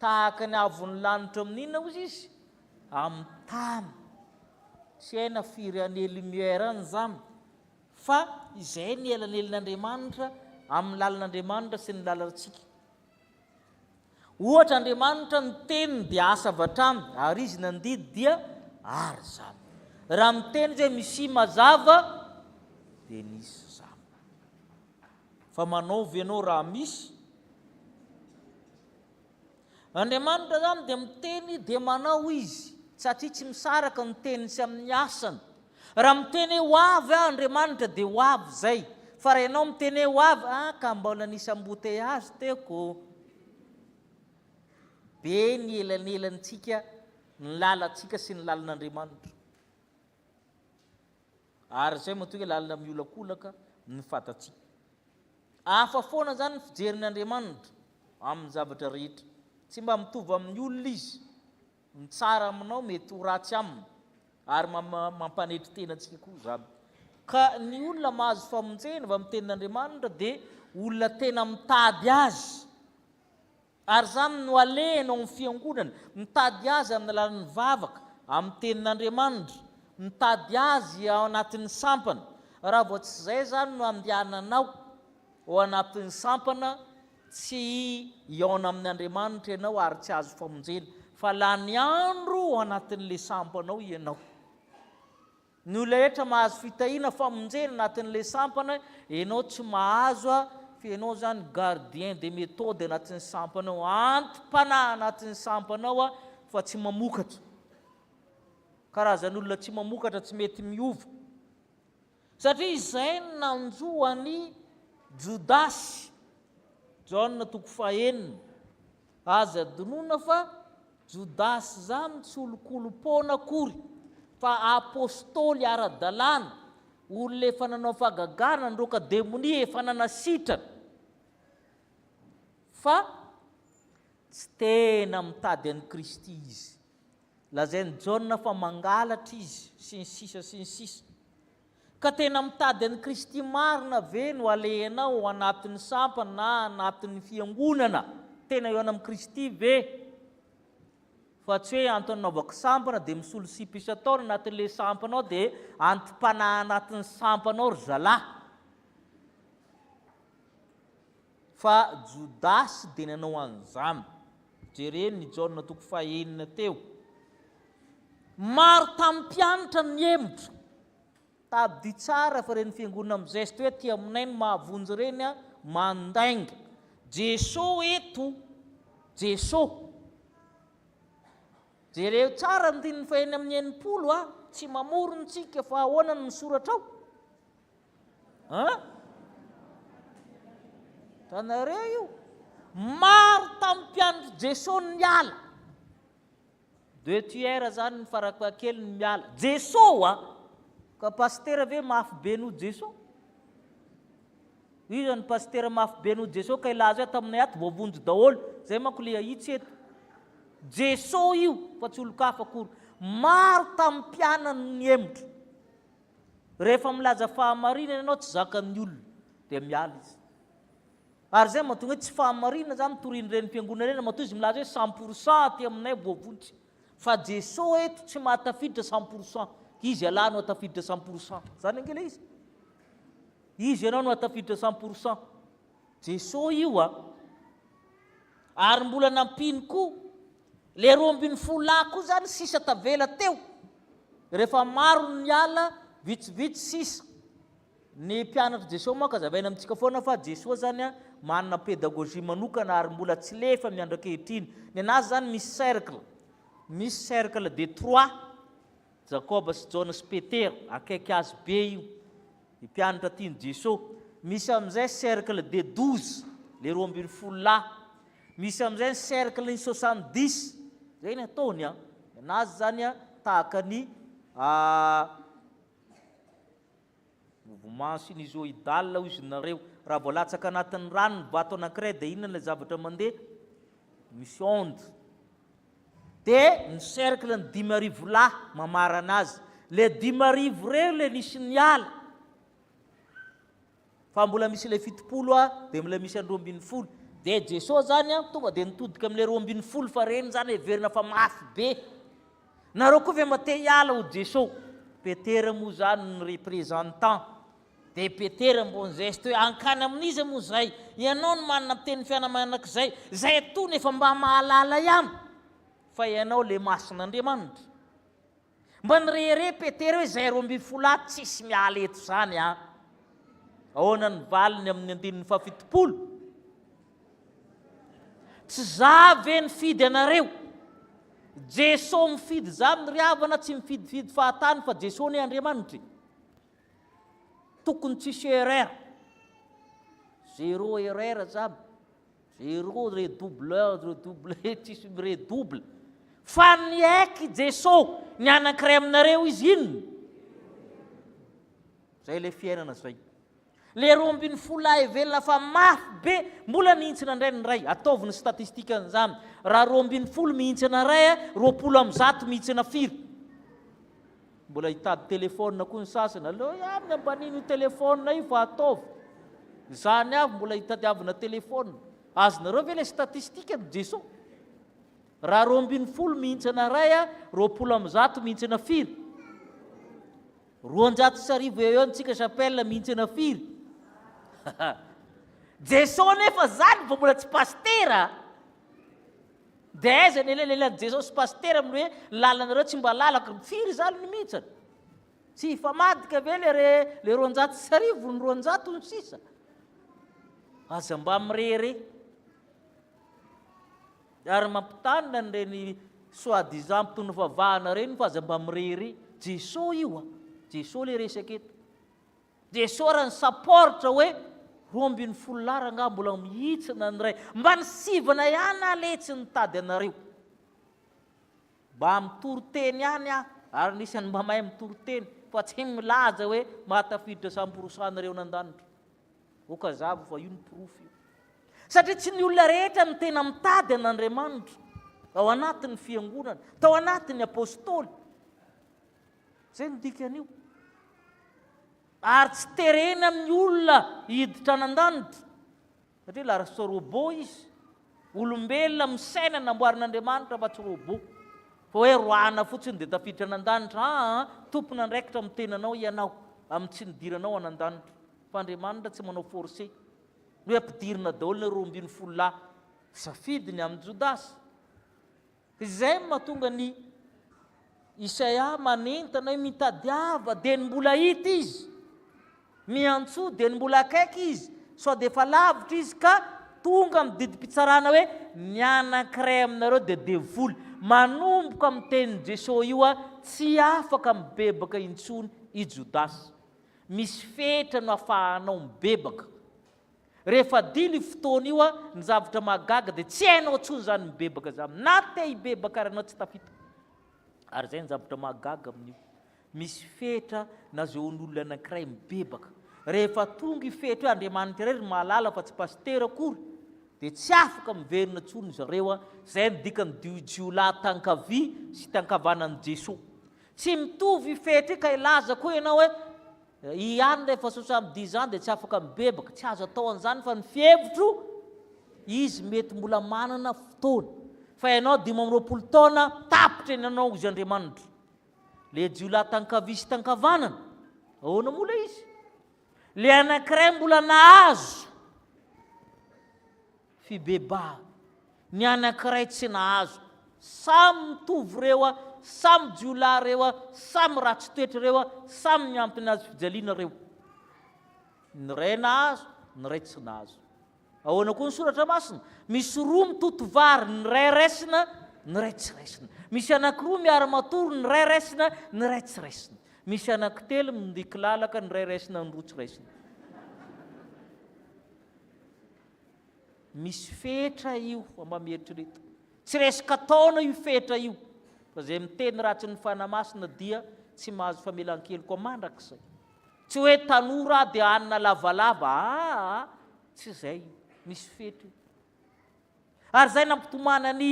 Tahaka ny avon'ny lanitra amin'ny inona ozy izy? Amin'ny tany. Tsy hay na firy années lumière any izany, fa izay ny elanelin'Andriamanitra amin'ny lalan'Andriamanitra sy ny lalantsika. Ohatra, Andriamanitra ny teniny dia asa avy hatrany, ary izy nandidy dia ary izany. Raha miteny izy hoe misia mazava, dia nisy izany. Fa manaova ianao raha misy. Andriamanitra izany dia miteny dia manao Izy, satria tsy misaraka ny teniny sy amin'ny asany. Raha miteny hoe ho avy aho Andriamanitra dia ho avy izay. Fa raha ianao miteny hoe ho avy, ah ka mbola nisy embouteillage teoko ô. Be ny elanelantsika, ny lalantsika sy ny lalan'Andriamanitra. Ary izay matoa hoe lalina miolakolaka ny fatantsika. Hafa foana izany ny fijerin'ny Andriamanitra amin'ny zavatra rehetra. Tsy mba mitovy amin'ny olona izy. Ny tsara aminao mety ho ratsy aminy, ary mampanetry tena antsika koa izany. Ka ny olona mahazo famonjena avy amin'ny tenin'Andriamanitra dia olona tena mitady azy. Ary izany no alehany ao amin'ny Fiangonana, mitady Azy amin'ny alalan'ny vavaka, amin'ny Tenin'Andriamanitra, mitady Azy ao anatin'ny sampana. Raha vao tsy izay izany no andehananao, ao anatin'ny sampana, tsy hihaona amin' Andriamanitra ianao ary tsy hahazo famonjena, fa lany andro ao anatin'ilay sampanao ianao. Ny olona rehetra mahazo fitahiana famonjena anatin'ilay sampana enao tsy mahazo a fa enao zany gardien de methode anatin'ny sampanao anti-panahy anatin'ny sampanao a fa tsy mamokatra karazan'olona tsy mamokatra tsy mety miova satria izay ny nanjo an'i jodasy jaona toko fahenina aza donona fa Jodasy zany tsy olon-kolom-poana akory fa apostoly ara-dalàna, olona efa nanao fagagana nandroaka demonia efa nanasitrana fa tsy tena mitady an'i Kristy izy. Lazain'i Jaona fa mangalatra izy sy ny sisa sy ny sisa. Ka tena mitady an'i Kristy marina ve no alehanao ao anatin'ny sampana na anatin'ny fiangonana? Tena eo anam Kristy ve? Fa tsy hoe antony anaovako sampana dia misolo sipa isan-taona anatin'ilay sampana ao dia anti-panahy anatin'ny sampana ao ry zalahy. Fa Jodasy dia nanao an'izany. Jereo ny Jaona toko fahenina teo. Maro tamin'ny mpianatra no nihemotra. Tadidio tsara fa ireny fiangonana mizeste hoe aty aminay no mahavonjy ireny an, mandainga. Jeso eto. Jeso. Jereo tsara ny andininy fahenina amin'ny enimpolo a, tsy mamoron-tsika fa ahoana no misoratra ao? An? Tanareo io? Maro tamin'ny mpianatry Jesoa ny niala. Deux tiers zany ny farapahakeliny ny miala. Jesoa a! Ka pasitera ve mafy be noho Jesoa? Iza ny pasitera mafy be noho Jesoa ka ilaza hoe taminay ato voavonjy daholo. Zay manko le ahitsy eto. Jesoa io fa tsy olon-kafa akory. Maro tamin'ny mpianany no nihemotra. Rehefa milaza fahamarinana ianao tsy zakan'ny olona dia miala izy. Ary izay mahatonga hoe tsy fahamarinana izany no torian'ny renim-piangonana ireny matoa izy milaza hoe cent pour cent aty aminay voavonjy. Fa Jesoa eto tsy mahatafiditra cent pour cent. Izy ialahy no atafiditra cent pour cent. Izany ange ilay izy. Izy ianao no atafiditra cent pour cent. Jesoa io a. Ary mbola nampiany koa Le roa ambin'ny folo lahy koa zany sisa tavela teo rehefa maro ny niala vitsivitsy sisa ny mpianatry Jesoa moa ka zavaina amintsika foana fa Jesoa zany a manana pédagogie manokana ary mbola tsy lefa miandrakehitrin ny anazy zany misy cercle misy cercle de trois Jakoba sy Jaona sy Petera akaiky azy be io ny mpianatra tian'i Jeso, misy amin'izay cercle des douze le roa ambin'ny folo lahy, misy amin'izay ny cercle ny soixante dix, zay ny ataony an, ny anazy zany an tahaka ny Mouvement sinusoïdal hoy izy nareo, raha vao latsaka anatin'ny rano ny bato anankiray dia inona ilay zavatra mandeha? Misy onde. Dia ny cercle ny dimy arivo lahy mamarana azy. Le dimy arivo reo le nisy niala. Fa mbola misy ilay fitopolo a, dia mbola misy an'ny roa ambin'ny folo. Dia Jesoa zany a, tonga dia nitodika amin'ilay roa ambin'ny folo fa reny zany heverina fa mafy be. Nareo koa ve mba te hiala ho Jeso? Petera moa zany ny représentant de Petera mbo nizeste hoe hankany amin'iza moa zay? Ianao no manana ny teny fiainana manak'izay, zay atoa no efa mba mahalala ihany fa ianao le masin'Andriamanitra. Mba nirehareha Petera hoe zay roa ambin'ny folo ato tsisy miala eto zany an! Ahoana ny valiny amin'ny andininy fahafito-polo? Tsy za ve nifidy anareo? Jeso mifidy zany ry havana tsy mifidifidy fahatany fa Jeso ne Andriamanitra e. Tokony tsisy erreur. Zero erreur zany. Zero redouble, redouble, tsisy miredouble. Fa ny eky Jeso ny anankiray aminareo izy inona? Zay le fiainana zay. Le roa ambin'ny folo lahy heverina fa mafy be mbola nihintsina indray ny iray, ataovy ny statistique an'izany, raha roa ambin'ny folo mihintsana iray, roapolo amin'ny zato mihintsana firy? Mbola hitady téléphone koa ny sasany, aleo ihany ny ambaniny io téléphone io fa ataovy, izany avy mbola hitadiavina téléphone, azonareo ve le statistique no Jeso? Raha roa ambin'ny folo mihintsana iray, roapolo amin'ny zato mihintsana firy? Roanjato sy arivo eo eo ny tsika chapelle mihintsana firy haa Jeso nefa zany vao mbola tsy pasitera de aiza ny elalelan'i Jeso sy pasitera amin'ny hoe lalanareo tsy mba lalako ry firy zany ny mihintsana tsy hifamadika ve le re le roanjato sy arivo ny roanjato ny sisa aza mba mirehareha Ary mampitanina an'ireny soit disant mpitondra fivavahana ireny fa aza mba mirery. Jeso io a! Jeso le resaka eto. Jeso ary ny saporitra hoe roa ambin'ny folo lar angaha mbola mihitsina ny iray. Mba ny sivana ihany aho lehy tsy nitady anareo. Mba mitory teny ihany aho ary anisan'ny mba mahay mitory teny fa tsy milaza hoe mahatafiditra samporsan ireo nandanitra. Ok hazava fa io ny porofo io. Satria tsy ny olona rehetra no tena mitady an'Andriamanitra ao anatin'ny fiangonana, tao anatin'ny apôstôly. Zay no dikan'io. Ary tsy terena amin'ny olona hiditra an'andanitra. Satria la robo izy. Olombelona misaina namboarin'Andriamanitra fa tsy robot. Fa hoe roahina fotsiny dia tafiditra any an-danitra. Aa, tompon'andraikitra amin'ny tenanao ianao, amin'ny tsy nidiranao any an-danitra. Fa Andriamanitra tsy manao force. Ny hoe ampidirina daholo ny roa ambin'ny folo lahy. Safidy ny amin'i Jodasy. Izay no mahatonga an'i Isaia manentana hoe, Mitadiava, dia ny mbola hita izy, miantsoa, dia ny mbola akaiky izy, sao dia efa lavitra izy, ka tonga amin'ny didim-pitsarana hoe, Ny anankiray aminareo dia devoly. Manomboka amin'ny tenin'i Jesoa io hoe, Tsy afaka mibebaka intsony i Jodasy. Misy fetra no afahanao mibebaka. Rehefa dilo io fotoana io an, ny zavatra mahagaga dia tsy hainao intsony izany mibebaka izany, na te hibebaka ary ianao tsy tafita. Ary izay ny zavatra mahagaga amin'io. Misy fetra nasehoan'olona anankiray mibebaka. Rehefa tonga io fetra io, Andriamanitra irery no mahalala fa tsy pasitera akory, dia tsy afaka miverina intsony ry zareo an, izay no dikan'ny dio jiolahy tankavia sy tankavanan'i Jesoa. Tsy mitovy io fetra io ka hilazako hoe ianao hoe Ihany rehefa sosa am dia izany dia tsy afaka mibebaka, tsy azo atao an'izany fa ny fihevitro izy mety mbola manana fotoana fa ianao dimy amby roapolo taona tapitra eny anao izy Andriamanitra le jiolahy tankavia sy tankavanana ahoana moa le izy le anankiray mbola nahazo Fibebaha. Ny anankiray tsy nahazo. Samy mitovy ireo a, samy jiolahy ireo a, samy ratsy toetra ireo a, samy miampy ny hazofijaliana ireo. Ny iray nahazo, ny iray tsy nahazo. Ahoana koa ny soratra masina? Misy roa mitoto vary, ny iray raisina, ny iray tsy raisina. Misy anankiroa miara-matory, ny iray raisina, ny iray tsy raisina. Misy anankitelo mindikilalaka, ny iray raisina, ny roa tsy raisina. Misy fetra io mba mieritrereta. Tsy resaka taona io fetra io fa izay miteny ratsy ny fanahy masina dia tsy mahazo famelan-keloka mandrakizay. Tsy hoe tanora aho dia hanina lavalava aa, tsy izay, misy fetra io. Ary izay nampitomana ny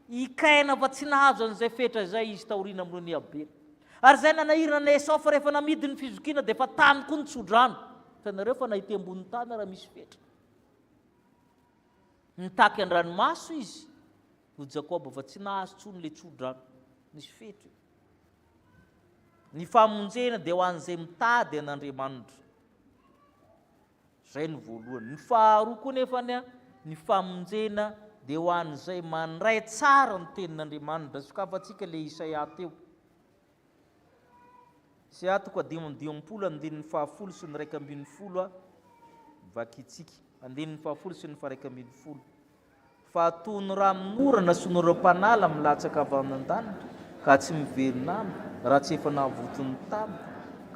i Kaina fa tsy nahazo an'izay fetra izay izy taoriana amin'ny nohon'i Abela. Ary izay nanahirana an'i Esaofa rehefa namidy ny fizokiana dia efa tany koa ny tsodrano. Hitanareo fa na ety ambony tany ara misy fetra. Nitaky an-dranomaso izy, ho Jakoba fa tsy nahazo tsony le tsodrano, nisy fetra io. Ny famonjena dia ho an'izay mitady an'Andriamanitra. Zay ny voalohany. Ny faharoa koa nefa ny ny famonjena dia ho an'izay mandray tsara ny tenin'Andriamanitra. Sokafantsika le Isaia teo. Sy aho toko dimy amby dimampolo andininy fahafolo sy ny iraika ambin'ny folo a! Vakintsika. Andininy fahafolo sy ny faharaika ambin'ny folo. Fa toy ny ranon'orana sy ny oram-panala milatsaka avy any an-danitra, ka tsy miverina any, raha tsy efa navoty ny tany,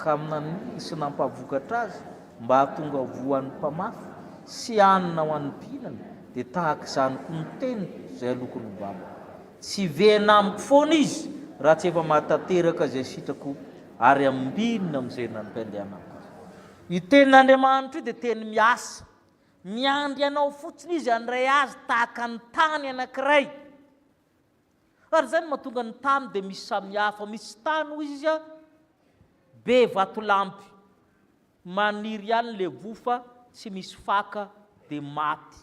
ka naniry sy nampavokatra azy, mba hahatonga voa ho an'ny mpamafy, sy hanina ho an'ny mpihinana, dia tahaka izany koa ny teniko izay aloako ny valiko. Tsy hiverina amiko foana izy raha tsy efa mahatanteraka izay sitrako ary ambinina amin'izay nampiandrianako azy. Io tenin'Andriamanitra io dia teny miasa. Miandry anao fotsiny izy handray azy tahaka ny tany anankiray. Ary izany no mahatonga ny tany dia misy samihafa. Misy tany, hoy izy, be vatolampy. Maniry ihany ilay voa fa tsy misy faka dia maty.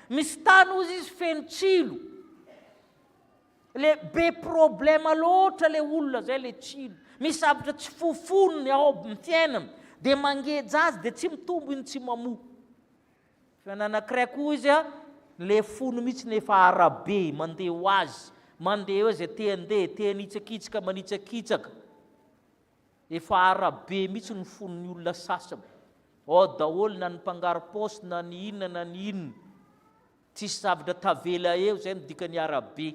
Misy tany ozy izy feno tsilo. Le be problema loatra le olona zay le tsilo. Misy zavatra tsy fofonony ao amin'ny fiainana. Dia mangeja azy dia tsy mitombo iny tsy mamoa. Fa nanankiray koa izy a, le fony mihitsy nefa arabe mandeha ho azy, mandeha eo izay te handeha, te hanitsakitsaka, manitsakitsaka. Efa ara be mihitsy ny fon'ny olona sasany, ao daholo na ny mpangaro paosy na ny inona na ny inona, tsisy zavatra tavela eo zay no dikany ara be,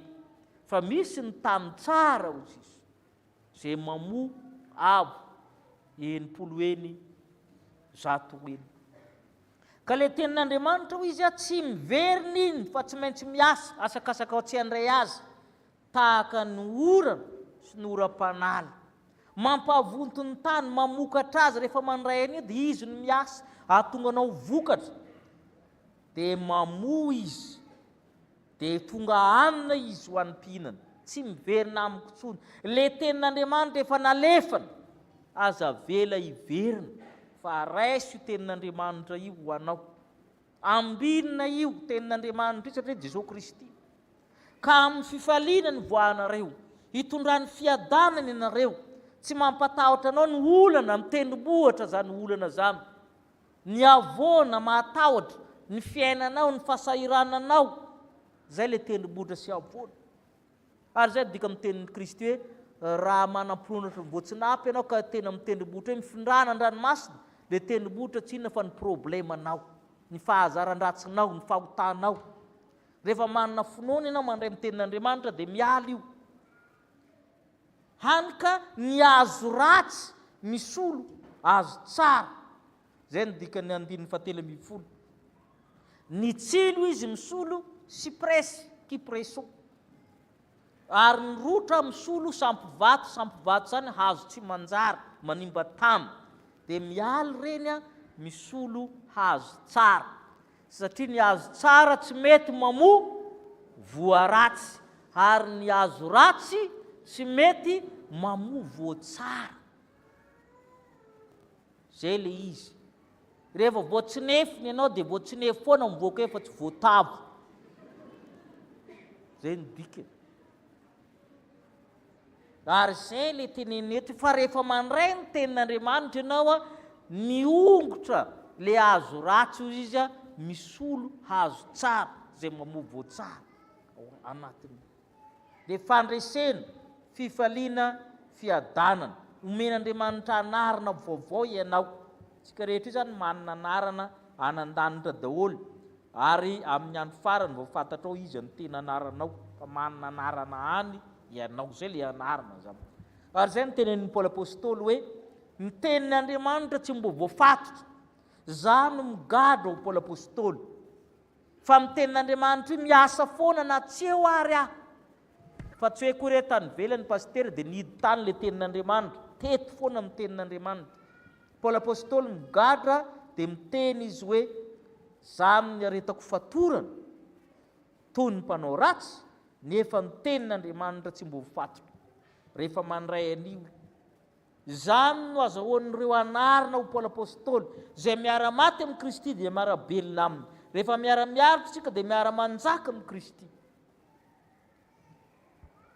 fa misy ny tany tsara hoy sisa, zay mamoa avo enimpolo eny zato eny. Ka le tenin'Andriamanitra hoy izy a tsy miverina iny fa tsy maintsy miasa asakasaka tsy handray azy Tahaka ny orana sy ny oram-panala. Mampavonto ny tany, mamokatra azy rehefa mandray an'io dia izy no miasa hahatonga anao vokatra. Dia mamoa izy, dia tonga hanina izy ho an'ny mpihinana. Tsy miverina amiko intsony. Le tenin'Andriamanitra efa nalefany, aza avela hiverina, fa raiso io tenin'Andriamanitra io ho anao. Ambinina io tenin'Andriamanitry satria Jesoa Kristy. Ka amin'ny fifaliana nivoahanareo, hitondrany fiadanana ianareo, tsy mampatahotra anao ny olana, ny tendrombohitra izany olana izany, ny havoana mahatahotra, ny fiainanao, ny fahasahirananao, izay ilay tendrombohitra sy havoana. Ary izay no dikan'ny tenin'i Kristy hoe, Raha manam-pinoana voatsinapy ianao ka tena amin'ny tendrombohitra hoe mifindrana an-dranomasina, ilay tendrombohitra tsy inona fa ny problemanao, ny fahazaran-dratsinao, ny fahotanao. Rehefa manana finoana ianao mandray amin'ny tenin'Andriamanitra dia miala io. Hany ka ny azo ratsy misolo azo tsara. Izay no dikan'ny andininy fahatelo ambin'ny folo. Ny tsilo izy misolo sipresy, kipreso, ary ny rotra misolo sampovato, sampovato izany hazo tsy manjary, manimba tany, dia mialy ireny a, misolo hazo tsara, satria ny hazo tsara tsy mety mamoa voa ratsy, ary ny hazo ratsy tsy mety mamoa voa tsara. Zay le izy. Rehefa vao tsy nefy ny anao dia vao tsy nefy foana mivoaka eo fa tsy voatavo. Zay ny dikany. Ary zay le tenenina eto fa rehefa mandray ny tenin'Andriamanitra ianao a, miongotra le hazo ratsy hoy izy a, misolo hazo tsara zay mamoa voa tsara ao anatiny. dia fandresena, fifaliana, fiadanana. Omen'Andriamanitra anarana vaovao ianao. Isika rehetra izany manana anarana any an-danitra daholo ary amin'ny andro farany vao fantatrao iza no tena anaranao fa manana anarana any ianao. Izay ilay anarana izany. Ary izay no tenenin'i Paoly Apostoly hoe ny tenin'Andriamanitra tsy mbola voafatotra. Izaho no migadra ho Paoly Apostoly. Fa ny tenin'Andriamanitra io miasa foana na tsy eo ary aho. Fa tsy hoe koa re tany ivelany pasitera dia nihidy tany ilay tenin'Andriamanitra, teto foana no tenin'Andriamanitra. Paoly Apostoly migadra dia miteny izy hoe za amin'ny aretako fatorana toy ny mpanao ratsy nefa ny tenin'Andriamanitra tsy mbovo fatotra. Rehefa mandray an'io. Izany no azahoan'ireo anarina ho Paoly Apostoly, izay miara-maty amin'i Kristy dia miara-belona Aminy. Rehefa miara-miaritra isika dia miara-manjaka amin'i Kristy.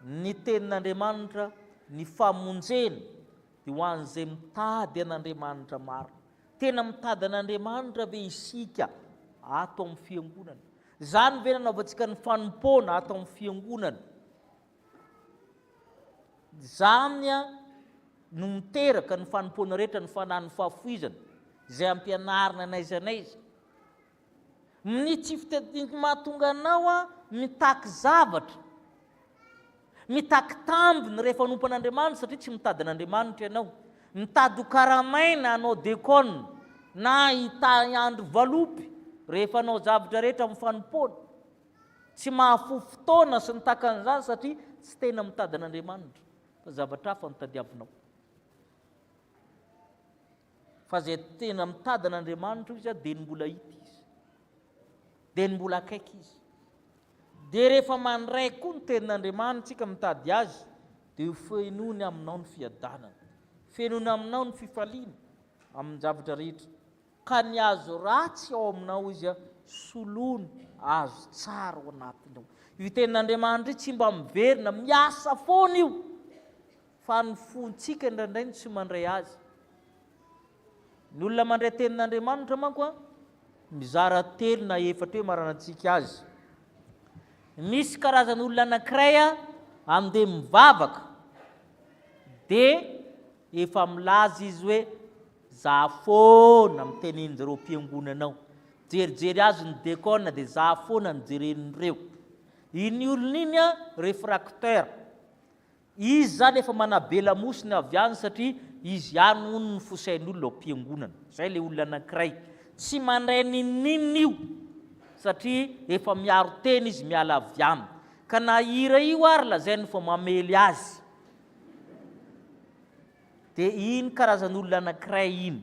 Ny Tenin'Andriamanitra, ny famonjena, dia ho an'izay mitady an'Andriamanitra marina. Tena mitady an'Andriamanitra ve isika ato amin'ny Fiangonana? Izany ve nanaovantsika ny fanompoana ato amin'ny Fiangonana? Izany no miteraka ny fanompoana rehetra ny fanan'ny fahafoizana izay ampianarina n'aiza n'aiza. Ny tsy fitadidian'ny mahatonga anao mitaky zavatra, mitaky tambiny rehefa hanompo an'Andriamanitra satria tsy mitady an'Andriamanitra ianao. Mitady ho karamaina hanao dekona na hitahy andro valopy rehefa hanao zavatra rehetra amin'ny fanompoana. Tsy mahafoy fotoana sy ny takan'izany satria tsy tena mitady an'Andriamanitra fa zavatra hafa no tadiavinao. Fa izay tena mitady an'Andriamanitra izy dia ny mbola hita izy, dia ny mbola akaiky izy. Dia rehefa mandray koa ny tenin'Andriamanitra tsika mitady azy dia ho fenoiny aminao ny fiadanana, fenoiny aminao ny fifaliana amin'ny zavatra rehetra. Ka ny azo ratsy ao aminao izy a soloina azo tsara ao anatinao. Io tenin'Andriamanitra io tsy mba miverina, miasa foana io, fa ny fontsika indraindray no tsy mandray azy. Ny olona mandray tenin'Andriamanitra manko a, mizara telo na efatra eo maranan-tsika azy. Misy karazan' olona anankiray a, andeha mivavaka, dia efa milaza izy hoe Za foana miteny anzareo mpiangonana ao, jerijery azy ny Decon de za foana no jeren'ireo. Iny olona iny a refracteur, izy zany efa manabe lamosiny avy any satria izy ihany hono no fosain'olona ao mpiangonana. Zay le olona anankiray, tsy mandray n'inon'inona io satria efa miaro tena izy miala avy any. Ka na hira io ary lazainy fa mamely azy. Dia iny karazan'olona anankiray iny.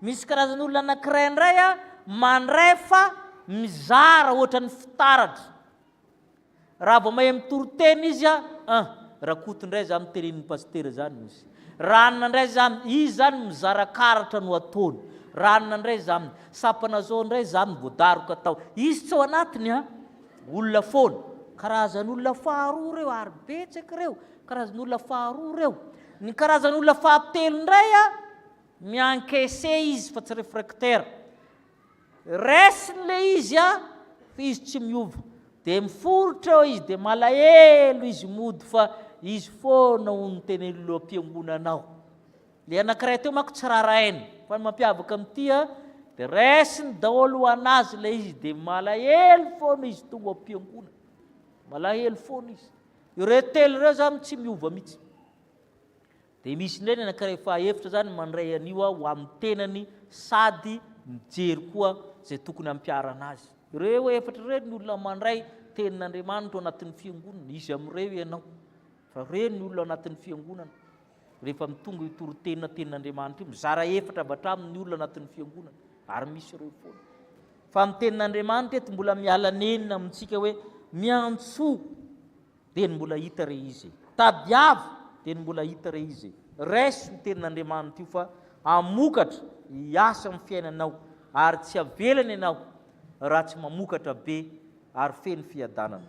Misy karazan'olona anankiray indray a, mandray fa mizara ohatran'ny fitaratra. Raha vao mahay mitory teny izy a, ah, Rakoto indray za no tenenin'ny pasitera zany hozy. Ranona indray zany, izy zany mizara karatra no ataony. Ranona indray zany, sapana zao indray zany vao daroka tao. Izy tsy ao anatiny a, olona foana. Karazan'olona faharoa ireo ary betsaka ireo. Karazan'olona faharoa ireo. Ny karazan'olona fahatelo indray a, mi-encaisser izy fa tsy refractaire. Raisiny ilay izy a, fa izy tsy miova. Dia miforitra eo izy, dia malahelo izy mody fa izy foana hono no tena ilo-am-piangonana ao. Ilay anankiray teo manko tsy rarahainy, fa ny mampiavaka amin'ity a, dia raisiny daholo ho an'azy ilay izy, dia malahelo foana izy tonga ao am-piangonana. Malahelo foana izy. Ireo telo ireo zany tsy miova mihitsy. Dia misy indray ny anankiray fahaefitra zany mandray an'io aho ho amin'ny tenany sady mijery koa izay tokony hampiharana azy. Ireo efatra ireo ny olona mandray tenin'Andriamanitra ao anatin'ny fiangonana, izy amin'ireo ianao. Fa ireo ny olona ao anatin'ny fiangonana. Rehefa mitonga io toriteny tenin'Andriamanitra io, mizara efatra avy hatramin' ny olona anatin'ny fiangonana, ary misy ireo foana. Fa ny tenin'Andriamanitra eto mbola miala nenina amintsika hoe miantsoa dia ny mbola hita re izy, tadiavo dia ny mbola hita re izy. Raiso io tenin'Andriamanitra io fa hamokatra hiasa amin'ny fiainanao ary tsy havelany ianao raha tsy mamokatra be ary feno fiadanana.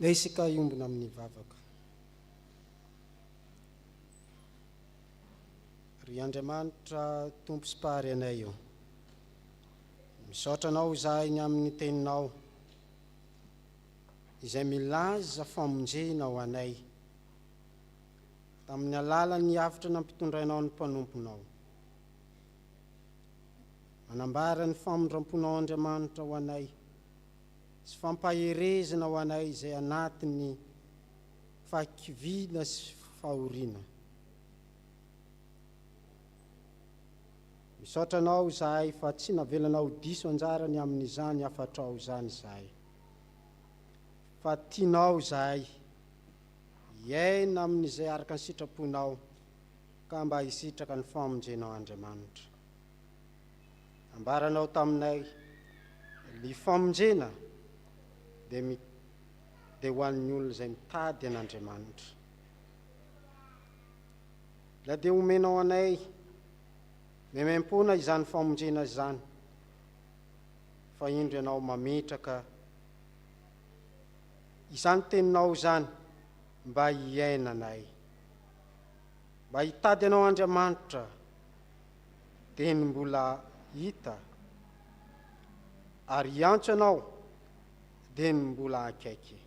Dia isika hiombona amin'ny vavaka. Ry Andriamanitra Tompo sy Mpahary anay ô. Misaotra Anao izahay ny amin'ny Teninao izay milaza famonjena ho anay tamin'ny alalan'ny avotra nampitondrainao ny mpanomponao. Manambara ny famindramponao Andriamanitra ho anay sy fampaherezana ho anay izay anatin'ny fahakiviana sy fahoriana. Misaotra anao izahay fa tsy navelanao ho diso anjara ny amin'izany hafatrao izany izahay. Fa tianao izahay hiaina amin'izay araka ny sitraponao ka mba hisitraka ny famonjenao Andriamanitra. Ambaranao taminay ny famonjena dia dia ho an'ny olona izay mitady an'Andriamanitra. Na dia omenao anay maimaimpoana izany famonjena izany, fa indro ianao mametraka izany teninao izany mba hiainanay. Mba hitady anao Andriamanitra, dia ny mbola hita, ary hiantso anao dia ny mbola akaiky.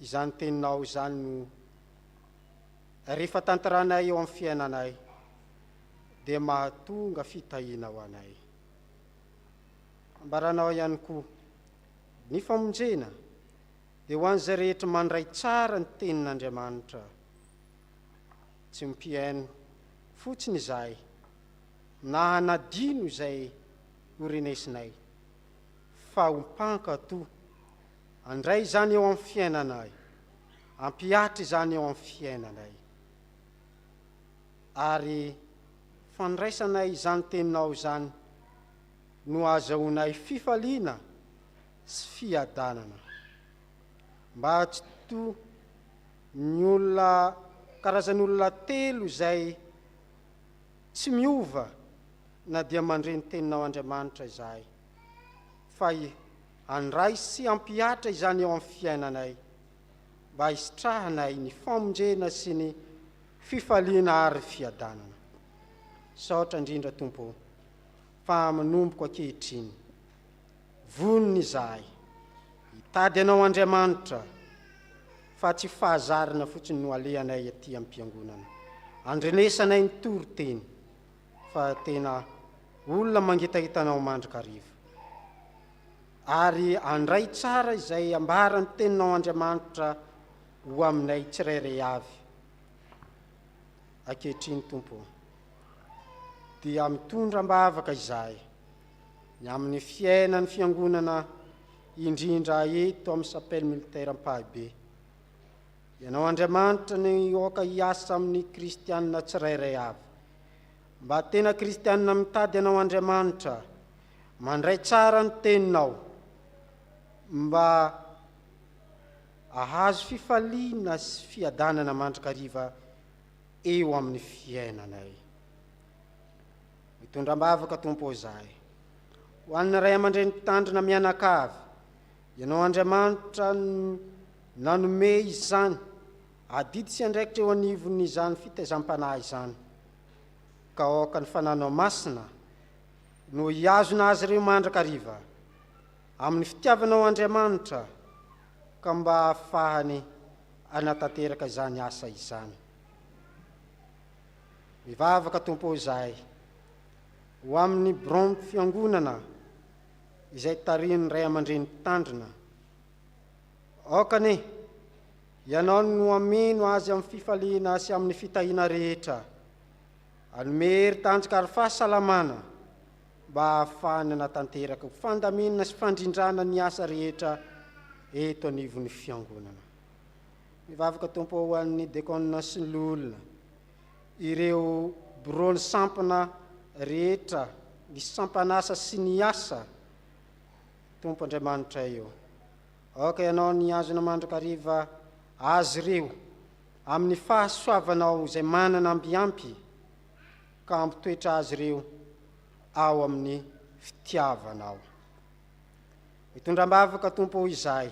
izany teninao izany no rehefa tantaranay eo amin'ny fiainanay dia mahatonga fitahiana ho anay. Ambaranao ihany koa ny famonjena dia ho an'izay rehetra mandray tsara ny tenin'Andriamanitra. Tsy mpihaino fotsiny izahay na hanadino izay ho renesinay fa ho mpankato. Andray izany eo amin'ny fiainanay, ampihatra izany eo amin'ny fiainanay, ary fandraisanay izany Teninao izany no ahazahoanay fifaliana sy fiadanana. Mba atsito ny olona, karazan'olona telo izay, Tsy miova na dia mandre ny Teninao Andriamanitra izahay, fa handray sy hampihatra izany eo amin'ny fiainanay, mba hisitrahanay ny famonjena sy ny fifaliana ary fiadanana. Misaotra indrindra Tompo o, fa manomboka ankehitriny. Vonona izahay hitady Anao Andriamanitra fa tsy fahazarana fotsiny no alehanay aty am-piangonana, andrenesanay ny toriteny fa tena olona mangitahita Anao mandrakariva. Ary andray tsara izay ambaran'ny Teninao Andriamanitra ho aminay tsirairay avy ankehitriny Tompo ô. Dia mitondra am-bavaka izahay ny amin'ny fiainan'ny Fiangonana indrindra eto amin'ny Chapelle Militaire Ampahibe. Ianao Andriamanitra no aoka hiasa amin'ny Kristianina tsirairay avy. Mba tena Kristianina mitady Anao Andriamanitra, mandray tsara ny Teninao, mba ahazo fifaliana sy fiadanana mandrakariva eo amin'ny fiainanay. Mitondra am-bavaka Tompo ô izahay. Ho an'ny ray aman-dreny mpitandrina mianakavy, Ianao Andriamanitra no nanome izany adidy sy andraikitra eo anivon'izany fitaizam-panahy izany, ka aoka ny Fananao Masina no hihazona azy ireo mandrakariva, amin'ny fitiavanao Andriamanitra, ka mba hahafahany hanatanteraka izany asa izany. Mivavaka Tompo izahay ho amin'ny Biraon'ny Fiangonana izay tarihin'ny Ray aman-dReny Mpitandrina. Aoka anie Ianao no hameno azy amin'ny fifaliana sy amin'ny fitahiana rehetra. Anome hery tanjaka ary fahasalamana mba hahafahany hanatanteraka ho fandaminana sy fandrindrana ny asa rehetra eto anivon'ny Fiangonana. Mivavaka Tompo ho an'ny Dekona sy ny Loholona, ireo Biraon'ny Sampana rehetra, ny Sampan'asa sy ny asa, Tompo Andriamanitray ô. Aoka Ianao ny hihazona mandrakariva azy ireo amin'ny fahasoavanao izay manana ambiampy ka hampitoetra azy ireo ao amin'ny fitiavanao. Mitondra am-bavaka Tompo izahay.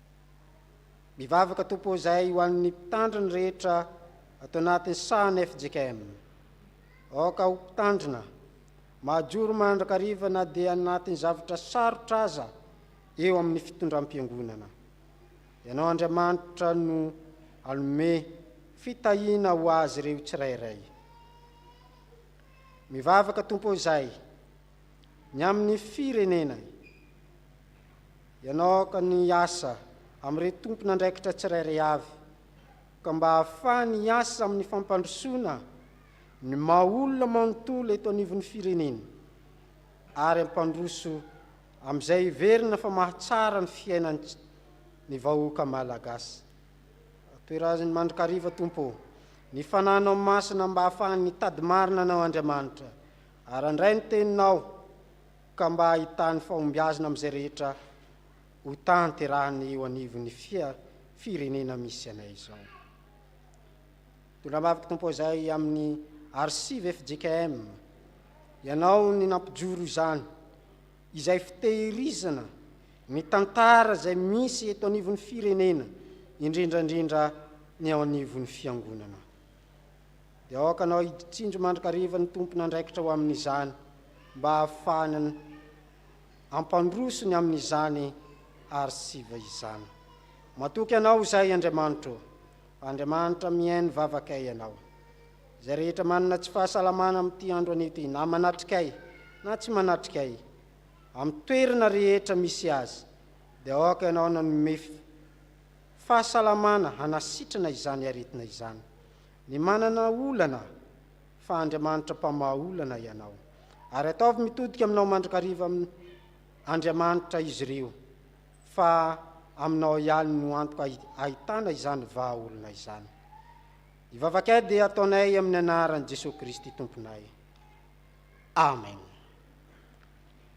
Mivavaka Tompo izay ho an'ny mpitandro ny rehetra ato anatin'ny sahan'ny fjkm. Aoka ho mpitandrina, mahajoro mandrakariva na dia anatin'ny zavatra sarotra aza eo amin'ny fitondram-piangonana. Ianao Andriamanitra no hanome fitahiana ho azy ireo tsirairay. Mivavaka Tompo izay Ny amin'ny firenena. Ianao aoka ny hiasa amin'ireo tompon'andraikitra tsirairay avy ka mba hahafahany hiasa amin'ny fampandrosoana ny maha olona manontolo eto anivon'ny firenena ary hampandroso amin'izay heverina fa mahatsara ny fiainan'ny ny vahoaka Malagasy. Toeraziny mandrakariva Tompo ô, ny fananao masina mba hahafahany hitady marina Anao Andriamanitra Ary andray ny teninao, ka mba hahitany fahombiazna amin'izay rehetra hotanterahany eo anivon'ny firenena misy anay izao. Mitondra ambavaka Tompo izay amin'ny Arsive fjkm Ianao ny nampijoro izany, izay fitehirizana ny tantara izay misy eto anivon'ny firenena, indrindraindrindra ny ao anivon'ny Fiangonana. dia aoka anao hidy tsindry mandrakariva ny tompon'andraikitra ho amin'izany mba hahafahany hampandroso ny amin'izany arsiva izany. Matoky anao izay Andriamanitro ô! Andriamanitra mihaino vavakay ianao. Izay rehetra manana tsy fahasalamana amin'ity andro an'ity na manatrikay na tsy manatrikay amin'ny toerana rehetra misy azy dia aoka ianao nanome fahasalamana hanasitrana izany aretina izany. Ny manana olana fa Andriamanitra mpamaha olana ianao. Ary ataovy mitodika aminao mandrakariva amin Andriamanitra izy ireo fa aminao ihany no antoka ahitana izany vaha olona izany. Ny vavakay dia ataonay amin ny anaran Jesoa Kristy Tomponay. Amen.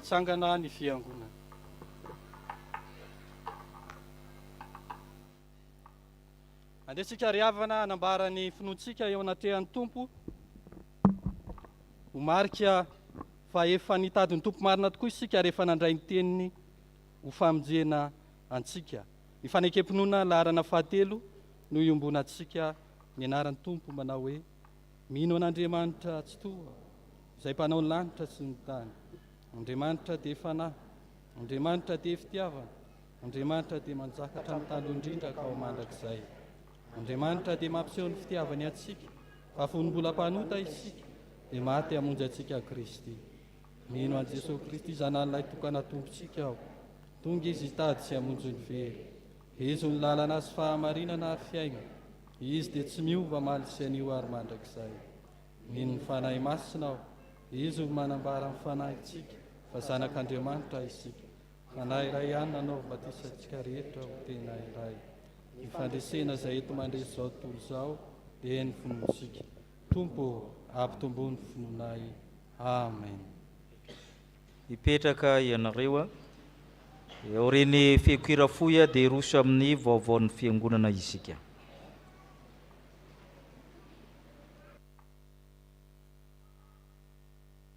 hitsangana ny fiangonana. Andeha tsika ary havana hanambara ny finoantsika eo anatrehan'ny Tompo. Ho marika fa efa nitady ny Tompo marina tokoa isika ary efa nandray ny teniny ho famonjena antsika. Ny fanekem-pinoana laharana fahatelo no iombonantsika ny anaran'ny Tompo manao hoe Mino an'Andriamanitra Tsitoha izay mpanao ny lanitra sy ny tany. Andriamanitra dia Fanahy. Andriamanitra dia Fitiavana. Andriamanitra dia manjaka hatramin'ny taloha indrindra ka ho mandrakizay. Andriamanitra dia mampiseho ny fitiavany antsika fa fony mbola mpanota isika dia maty hamonjy antsika Kristy. Mino an'i Jesosy Kristy Zanan'ilay tokana Tompontsika aho. Tonga izy hitady sy hamonjy ny very. Hezo ny lalana sy fahamarinana ary fiaina. Izy dia tsy miova maly sy anio ary mandrakizay. Mino ny Fanahy Masina aho. Izy no manambara amin'ny fanahintsika fa zanak'Andriamanitra isika. Fanahy iray ihany nanaovy batisa antsika rehetra ho tena iray. Ny fandresena izay eto mandresy izao tontolo izao dia ny finoantsika. Tompo ô, ampitombo ny finoanay. Amen. Mipetraka ianareo eo aorian'ny fiokoira fohy dia hiroso amin'ny vaovaon'ny Fiangonana isika.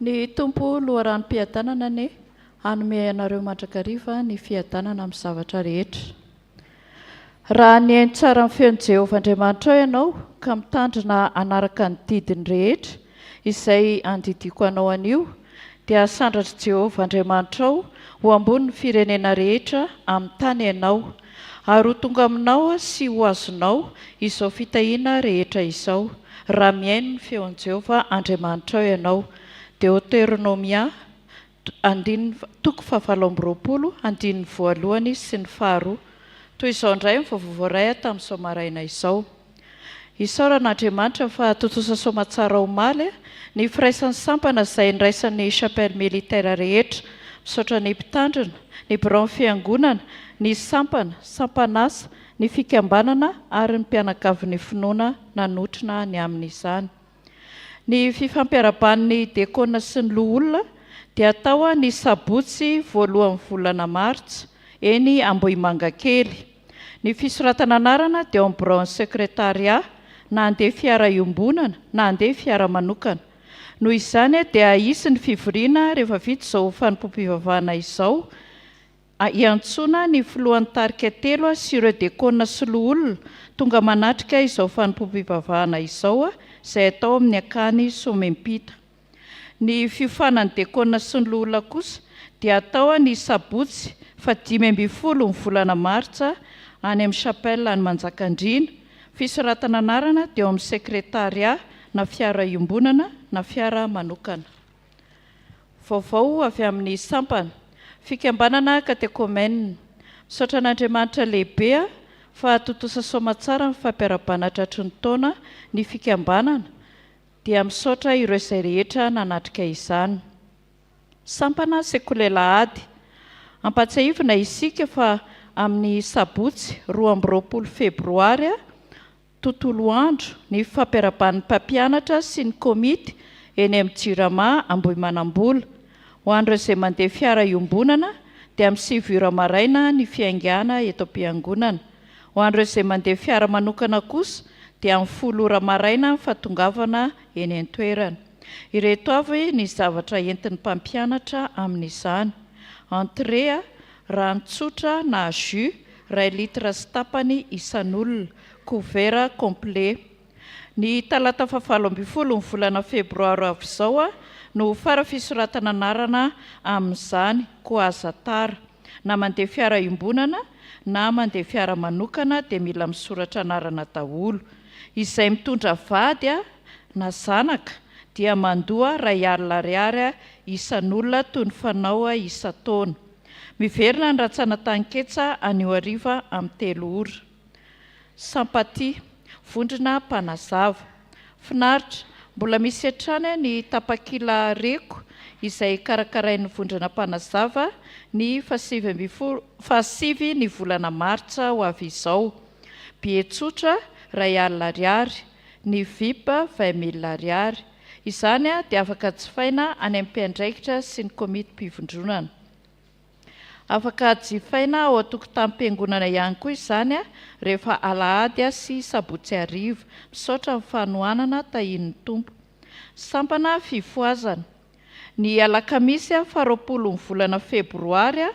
Ny Tompo loharanom-piadanana anie hanome anareo mandrakariva ny fiadanana amin'ny zavatra rehetra. Raha nihaino tsara ny feon'i Jehovah Andriamanitrao ianao ka mitandrina hanaraka ny didiny rehetra izay andidiako anao anio, dia hasandratr'i Jehovah Andriamanitrao ho ambony ny firenena rehetra amin'ny tany ianao, Ary ho tonga aminao sy ho azonao izao fitahiana rehetra izao, raha mihaino ny feon'i Jehovah Andriamanitrao ianao. Deoteronomia, andininy, toko fahavalo amby roapolo, andininy voalohany sy ny faharoa. Toy izao indray ny vaovao voaray tamin'izao maraina izao. Isaorana Andriamanitra fa tontosa soamatsara omaly ny firaisan'ny sampana izay niraisan'ny Chapelle Militaire rehetra. Misaotra ny Mpitandrina, ny Biraon'ny Fiangonana, ny Sampana, Sampan'Asa, ny Fikambanana ary ny Mpianakavin'ny Finoana nanotrona ny amin'izany. Ny fifampiaraban'ny Dekona sy ny Loholona dia atao ny sabotsy voalohan'ny volana martsa, eny Ambohimangakely. Ny fisoratana anarana dia ao amin'ny biraon'ny Sekretarià, na handeha fiara iombonana na handeha fiara manokana. Noho izany dia hisy ny fivoriana rehefa vita izao fanompoam-pivavahana izao. Iantsoana ny filohan'ny tarika telo sy ireo dekona sy loholona tonga manatrika izao fanompoam-pivavahana izao izay atao amin'ny akany Somempita. Ny fiofanan'ny dekona sy ny loholona kosa dia atao ny sabotsy fahadimy ambin'ny folo ny volana martsa any amin'ny chapelle any Manjakandriana. Fisoratana anarana dia ao amin'ny sekretarià na fiara iombonana na fiara manokana. Vaovao avy amin'ny sampana, fikambanana katekomenina. Misaotra an'Andriamanitra lehibe aho fa tontosa soamatsara ny fampiarahabana tratry ny taona ny fikambanana dia misaotra ireo izay rehetra nanatrika izany. Sampana Sekoly Alahady. Ampatsiahivina isika fa amin'ny sabotsy roa amby roapolo febroary, tontolo andro ny fampiaraban'ny mpampianatra sy ny komity eny amin'ny Jirama Ambohimanambola. Ho an'ireo izay mandeha fiara iombonana dia amin'ny sivy ora maraina ny fiaingàna eto am-piangonana. Ho an'ireo izay mandeha fiara manokana kosa dia amin'ny folo ora maraina ny fahatongavana eny an-toerana. Ireto avy ny zavatra entin'ny mpampianatra amin'izany, entrée, rano tsotra na jus iray litre sy tapany isan'olona, Couvert complet. Ny talata fahavalo ambin'ny folo ny volana febroaro avy izao no ho fara fisoratana anarana amin'izany koa aza tara. Na mandeha fiara iombonana na mandeha fiara manokana dia mila misoratra anarana daholo. Izay mitondra vady na zanaka dia mandoa iray alina ariary isan'olona toy ny fanao isan-taona. Miverina ny rantsana tanin-ketsa anio hariva amin'ny telo ora. Sympathie, vondrona mpanazava. Finaritra, mbola misy hatrany ny tapakila Reko izay karakarain'ny vondrona mpanazava ny fahasivy ambin'ny folo, fahasivy ny volana martsa ho avy izao. Billet tsotra, iray alina ariary, ny vip, vingt mille ariary. Izany dia afaka jifaina any amin'ny mpiandraikitra sy ny komity-pivondronana. Afaka jifaina ao an-tokotanim-piangonana ihany koa izany rehefa alahady sy sabotsy hariva. Misaotra amin'ny fanohanana, tahian'ny Tompo. Sampana fifohazana. Ny alakamisy faha roapolon'ny volana febroary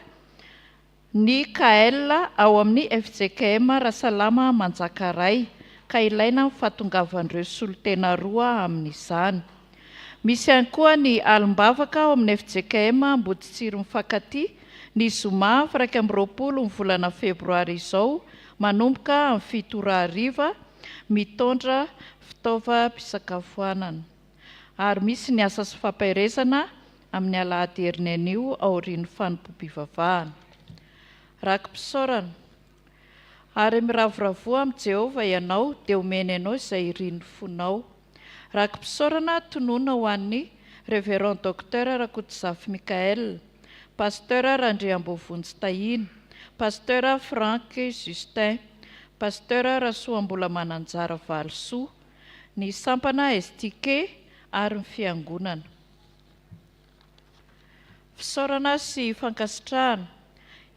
ny KL ao amin'ny fjkm Rasalama Manjakaray ka ilaina ny fahatongavan'ireo solontena roa amin'izany. Misy ihany koa ny alim-bavaka ao amin'ny fjkm Amboditsiry mifankatia ny zoma firaika amby roapolo ny volana febroary izao manomboka amin'ny fito ora hariva mitondra fitaovam-pisakafoanana ary misy ny asa sy fampaherezana amin'ny alahady heriny anio aorian'ny fanompoam-pivavahana raki-pisaorana Ary miravoravoa amin'i Jehovah ianao, dia homeny anao izay irin'ny fonao. Raki-pisaorana tonona ho an'ny Révérend Docteur Rakotozafy Michaël, Pasteur Randriambovonjy Tahiana, Pasteur Franck Justin, Pasteur Rasoambola Mananjara Valisoa, ny sampana STK ary ny Fiangonana. Fisaorana sy fankasitrahana.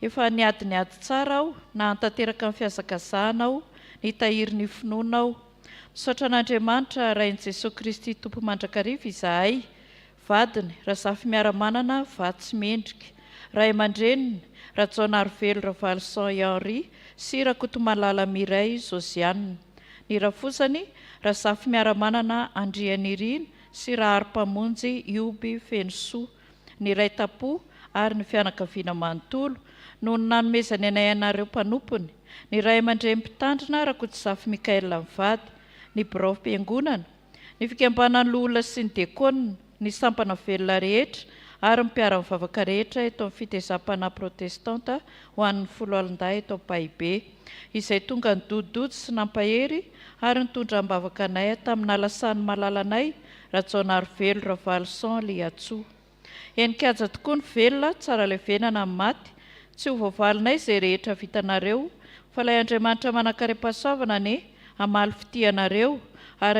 Efa niady niady tsara aho nahantanteraka ny fihazakazahanao nitahiry ny finoana aho. Misaotra an'Andriamanitra Rain'i Jesoa Kristy Tompo mandrakariva izahay, vadiny Razafimearamanana Vatsy Mendrika, ray aman-dreniny Rajaonarivelo Ravaloson i Henri sy Rakotomalala Mireille Josiane, ny rafozany Razafimearamanana Andrianirina sy Rahary Mpamonjy Ioby Fenosoa, niray tampo, ary ny fianakaviana manontolo, noho ny nanomezany anay anareo mpanompony, ny ray aman-dreny Mpitandrina Rakotozafy Michaël mivady, ny biraom-piangonana, ny fikambanan'ny loholona sy ny diakônina, ny sampana velona rehetra, ary ny mpiara-mivavaka rehetra eto amin'ny Fitezam-panahy Protestanta ho an'ny Foloalindahy eto Ampahibe. izay tonga nidodidody sy nampahery ary nitondra am-bavaka anay tamin'ala sany malalanay, Rajaonarivelo Ravaloson Liatsoa. Henin-kaja tokoa ny velona, tsara levenana ny maty, tsy ho voavalinay izay rehetra vitanareo, fa ilay Andriamanitra manankarem-pahasoavana anie hamaly fitia anareo, ary.